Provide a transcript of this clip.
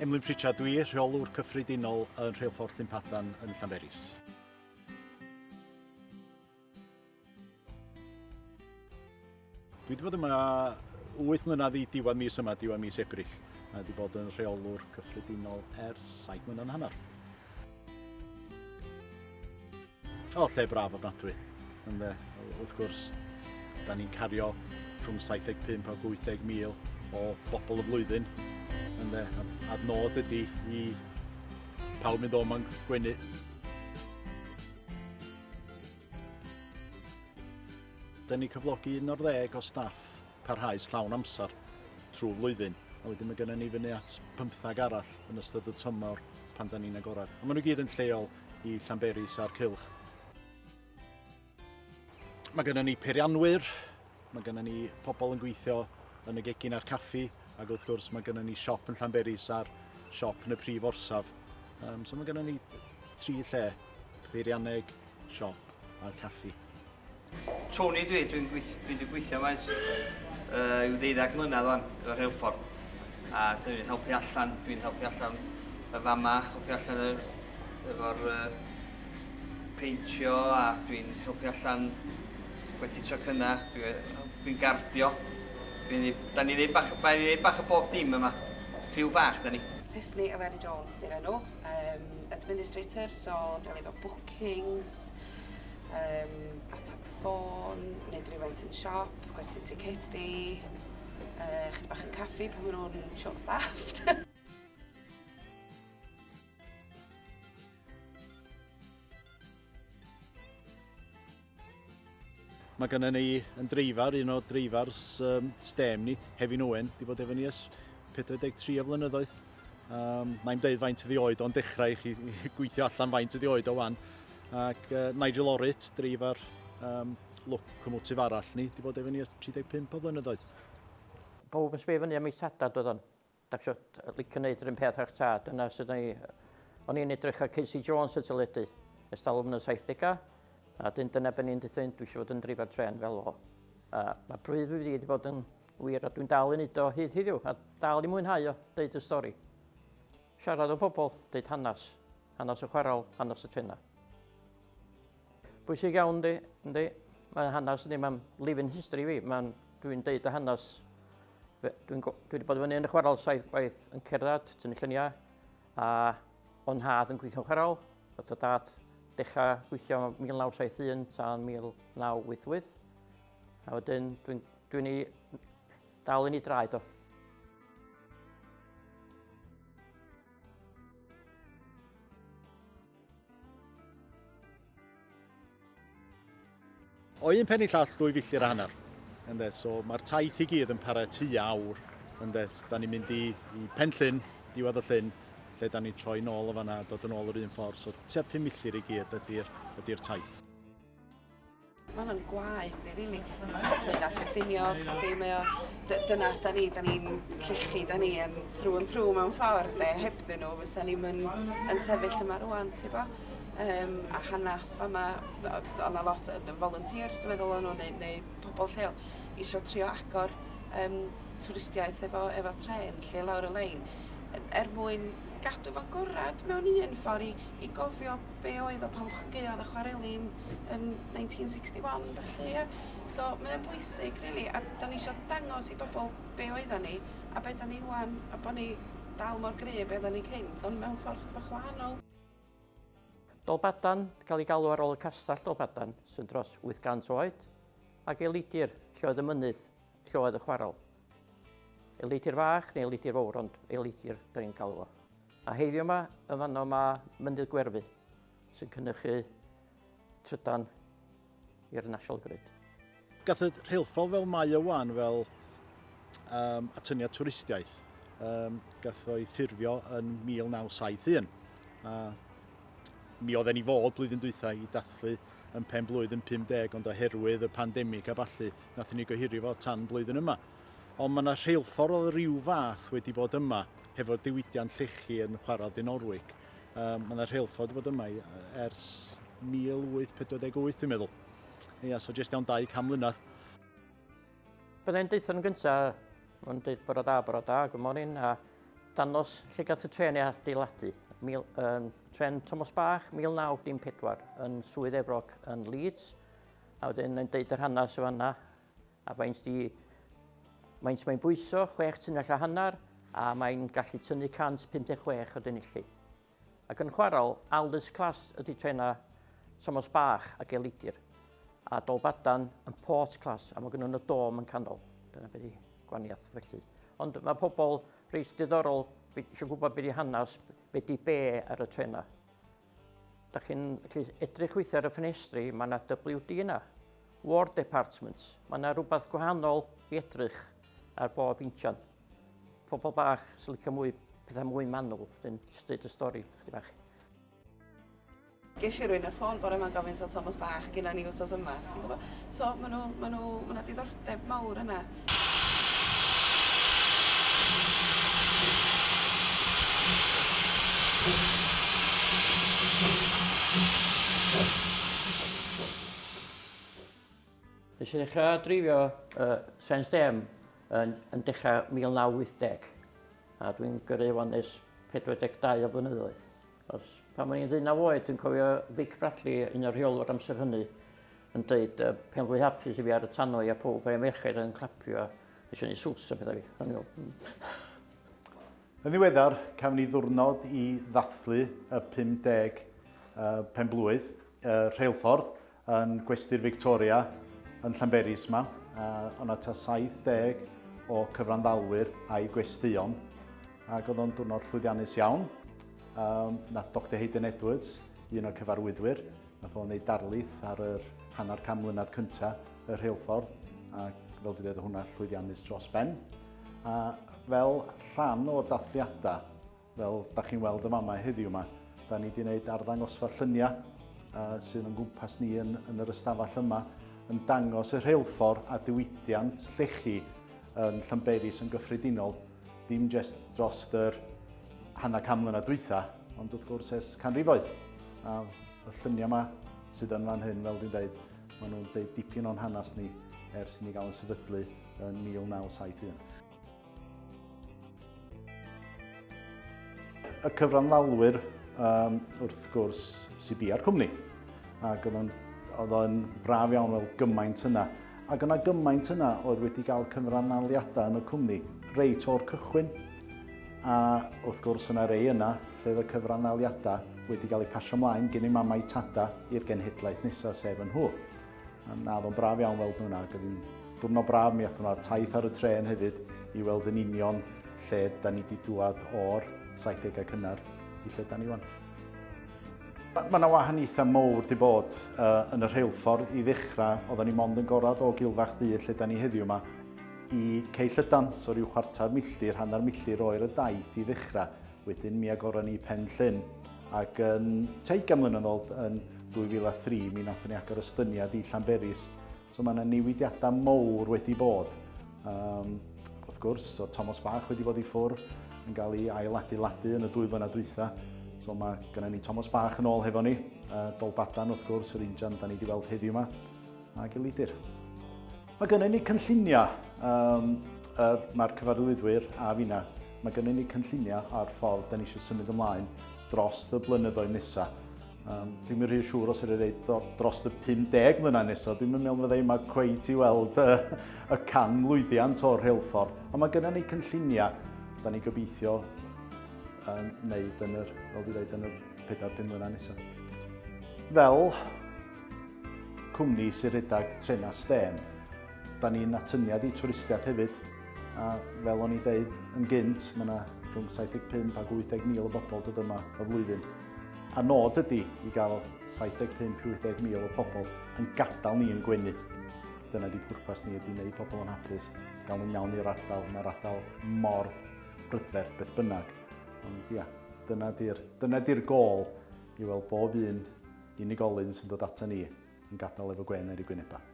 Emlyn Pritchard dwi, rheolwr cyffredinol yn Rheilffordd Llyn Padarn yn Llanberis. Dwi wedi bod yma 8 mlynedd i diwedd mis yma, diwedd mis Ebrill. A wedi bod yn rheolwr cyffredinol ers 7 mlynedd yn hanner. O, lle braf ofnadwy. Ynde, wrth gwrs, da ni'n cario rhwng 75 a 80 mil o bobl y flwyddyn. Ynde, a'r nod ydy i pawb mynd o'm yn gwenu. Dyn ni cyflogi un o'r ddeg o staff parhaus llawn amser trwy flwyddyn, a wedyn mae gennym ni fyny at pymthag arall yn ystod y tymor pan da ni'n agorad. A maen nhw gyd yn lleol i Llanberis a'r Cylch. Mae gennym ni peirianwyr, Mae gennym ni pobl yn gweithio yn y gegin a'r caffi ac wrth gwrs mae gennym ni siop yn Llanberis a'r siop yn y prif orsaf. Um, so mae gennym ni tri lle, beirianneg, siop a'r caffi. Tony dwi, dwi'n gweith, dwi wedi gweithio yma ers uh, i'w ddeuddag mlynedd o'n y rheilffordd. A dwi'n helpu allan, dwi'n helpu allan y fama, helpu allan y, efo'r uh, peintio a dwi'n helpu allan Gwerthu tocynna, dwi yy dwi'n garddio. Dwi'n neu'... 'Dan ni'n neud bach o ba- neud bach o bob dim yma. Criw bach 'dan ni. Tisni Eleri Jones 'di'r enw. Yym administrator so delio efo bookings, yym atab ffôn, neud rywfaint yn siop, gwerthu ticedi, yy chydig bach yn caffi pan ma' nw'n short staffed. Mae gennym ni yn dreifar, un o dreifars um, STEM ni, Hefin Owen, di bod efo ni ys 43 o flynyddoedd. Um, na i'n dweud faint ydi oed o'n dechrau i chi gweithio allan faint ydi oed o wan. Ac uh, Nigel Orrit, dreifar um, locomotif arall ni, di bod efo ni ys 35 o flynyddoedd. Pawb yn sbio fyny am ei sadad oedd o'n. Dach chi isio licio wneud yr un peth â'ch tad? Dyna sut o'n i. O'n i'n edrych ar Casey Jones y teledu ers talwm yn y 70au, a wedyn dyna be o'n i'n deutha un, dwi eisiau fod yn drifa tren fel o. A mae pryd fi wedi bod yn wir, a dwi'n dal i wneud o hyd heddiw, a dal i mwynhau o, deud y stori. Siarad o pobl, deud hanes, hanes y chwarael, hanes y trenau. Bwysig iawn, yndi, yndi. Mae hanes ni, mae'n living history fi. Mae'n, dwi'n deud y hanes. Dwi'n dwi wedi bod yn fyny yn y chwarael saith gwaith yn cerdded, tynnu lluniau, a o'n had yn gweithio'n chwarael. Oedd y dad dechrau gweithio 1971 tan 1988. A wedyn, dwi'n dwi, ni dal yn ei draed o. O un pen i llall ddwy filltir a hanner. Ynde, so mae'r taith i gyd yn para tu awr. Ynde, da ni'n mynd i, i pen llyn, diwedd y llyn, lle da ni'n troi nôl o fanna, dod yn ôl yr un ffordd. So tua 5 milltir i gyd ydy'r ydy taith. Mae hwnna'n gwaed ni, rili. Ynglŷn â Ffestiniog, ydy, mae o... d- dyna da ni, da ni'n llechi, da ni yn through and through mewn ffordd, de. Hebddyn nhw, fysa ni'm yn, yn sefyll yma rwan, ti bo? Um, a hanes fama, oedd yna lot yn volunteers, dwi'n meddwl, o'n nhw, neu, neu pobl lleol, eisiau trio agor um, twristiaeth efo, efo tren, lle lawr y lein, er mwyn gadw fo'n gorau mewn un ffordd i, i gofio be' oedd o pan ddechreuodd y chwareli yn 1961 felly ia? So mae o'n bwysig rili a 'dan ni isio dangos i bobl be' oeddan ni a be' 'dan ni 'wan a bo' ni dal mor gry' a be' oeddan ni cynt ond mewn ffordd chydig bach wahanol. Dolbadarn, cael ei galw ar ôl y Castell Dolbadarn sy'n dros 800 oed, ac Eilidr, lle oedd y mynydd, lle oedd y chwarel. Eilidr Fach neu Eilidr Fowr ond Eilidr 'dan ni'n galw fo. A heiddiw ma, yn fanno ma mynydd gwerfu sy'n cynnychu trydan i'r National Grid. Gath y rheilffordd fel mae o wan fel um, atyniad twristiaeth. Um, gath o'i ffurfio yn 1971. A mi oedd e'n i fod blwyddyn dwythau i dathlu yn pen blwydd yn 50 ond oherwydd y pandemig a ballu, nath ni gohirio fo tan blwyddyn yma. Ond mae yna rheilffordd o ryw fath wedi bod yma hefo diwydiant llechi yn chwarae Dinorwig. Um, mae yna rheilffordd wedi bod yma ers 1848 dwi'n meddwl. Ia, so jyst iawn 200 mlynedd. Byddai'n deutho nhw'n gyntaf, mae'n dweud bore da, bore da, good morning, a danos lle gath y tren ei adeiladu. Mil, um, tren Thomas Bach, 1914, yn Swydd Efrog yn Leeds, a wedyn yn deud yr hanes y fanna, A faint di? Maent mae'n bwyso chwech tunnell a hanner a mae'n gallu tynnu 156 o denilli. Ac yn chwarael, Aldous Class ydy trena Thomas Bach a Gelidir, a Dolbadan yn Port Class a mae gynnu nhw dom yn canol. Dyna beth i gwaniaeth felly. Ond mae pobl reit diddorol eisiau gwybod beth i hanes, beth i be ar y trena. Dach chi'n gallu edrych weithiau ar y ffenestri, mae yna WD yna, War Department, mae yna rhywbeth gwahanol i edrych ar bob injan. Pobl bach sy'n licio mwy pethau mwy manwl, dyn jyst dweud y stori chdi bach. Ges i rwy'n y ffôn bore yma'n gofyn so Thomas Bach gyda ni wsos yma, ti'n gwybod? So maen nhw, maen nhw, maen nhw diddordeb mawr yna. Nes i ddechrau dreifio uh, Sens Dem yn, yn dechrau 1980 a dwi'n gyrru wan nes 42 o flynyddoedd. Achos pan o'n i'n ddeunaw oed, dwi'n cofio Vic Bradley, un o'r rheolwyr amser hynny, yn dweud, uh, pen fwy hapus i fi ar y tannoedd a pob rhai merched yn clapio a eisiau gwneud swts a pethau fi. O'n i'n meddwl, Yn ddiweddar, cafon ni ddwrnod i ddathlu y 50 uh, penblwydd uh, rheilffordd Yn Gwesty'r Victoria yn Llanberis yma, uh, o'na ta 70 o cyfranddalwyr a'i gwesteion, ac oedd o'n diwrnod llwyddiannus iawn. Um, nath Dr Hayden Edwards, un o'r cyfarwyddwyr, nath o'n ei darlith ar yr hanner cam mlynedd cyntaf y rheilffordd, ac fel dwi dweud, hwnna llwyddiannus dros ben. A fel rhan o'r dathliadau, Fel da chi'n weld y mamau heddiw yma, da ni wedi gwneud arddangosfa lluniau sydd o'n gwmpas ni yn, yn yr ystafell yma yn dangos y rheilffordd a diwydiant llechi yn Llanberis yn gyffredinol, dim jyst dros yr hanner can mlynedd dwytha, ond wrth gwrs ers canrifoedd. A y lluniau yma sydd yn fan hyn, fel dwi'n dweud, maen nhw'n dweud dipyn o'n hanes ni ers i ni gael yn sefydlu yn 1971. y cyfranddalwyr um, wrth gwrs sy'n bia'r cwmni. Ac oedd o'n braf iawn fel gymaint yna. Ac yna gymaint yna oedd wedi cael cyfranddaliadau yn y cwmni reit o'r cychwyn. A wrth gwrs yna rei yna lle oedd y cyfranddaliadau wedi cael eu pasio ymlaen gen i mamau tada i'r genhedlaeth nesaf sef yn nhw. Na, oedd o'n braf iawn weld nhw yna. Oedd hi'n diwrnod braf, mi athon nhw'r taith ar y tren hefyd i weld yn union lle da ni wedi dŵad o'r 70au cynnar i lle da ni wan. Mae yna wahaniaethau mowr wedi bod uh, yn y rheilffordd i ddechrau, oedden ni mond yn gorad o gilfach ddu lle da ni heddiw yma, i Cei Llydan, so rhyw chwarter milltir, hanner milltir oer y daith i ddechrau. Wedyn mi agoron ni Pen Llyn ac yn teigan mlynedd yn ôl yn 2003 mi nathon ni agor ystyniad i Llanberis. So mae yna newidiadau mowr wedi bod. Um, wrth gwrs, so Thomas Bach wedi bod i ffwr yn cael ei ailadeiladu yn y dwy flynedd dwytha. So mae gennym ni Thomas Bach yn ôl hefo ni, uh, Dolbadan wrth gwrs, yr injan da ni wedi weld heddiw yma, a Gilidir. Mae gennym ni cynlluniau, um, er, mae'r cyfarwyddwyr a finna, mae gennym ni cynlluniau ar ffordd da ni eisiau symud ymlaen dros y blynyddoedd nesaf. Um, dwi'n rhy siŵr os ydych chi'n dweud dros y 50 mlynedd nesaf, dwi'n meddwl fydda i yma cweit i weld y, y can lwyddiant o'r rheilffordd. Ond mae gennym ni cynlluniau, da ni gobeithio um, wneud yn yr, fel dwi'n dweud, yn y 4-5 mlynedd nesaf. Fel cwmni sy'n rhedeg trenau stêm. Da ni'n atyniad i twristiaeth hefyd, a fel o'n i'n dweud yn gynt, mae yna rhwng 75 ac 80 mil o bobl dod yma y flwyddyn. A nod ydy i gael 75-80 mil o bobl yn gadael ni yn gwenu. Dyna di pwrpas ni, ydy wneud pobl yn hapus, gael nhw'n iawn i'r ardal. Mae'r ardal mor brydferth beth bynnag. Ond ia, dyna di'r dyna di gol i weld bob un Unigolyn sy'n dod ata ni yn gadael efo gwên ar ei gwynebau.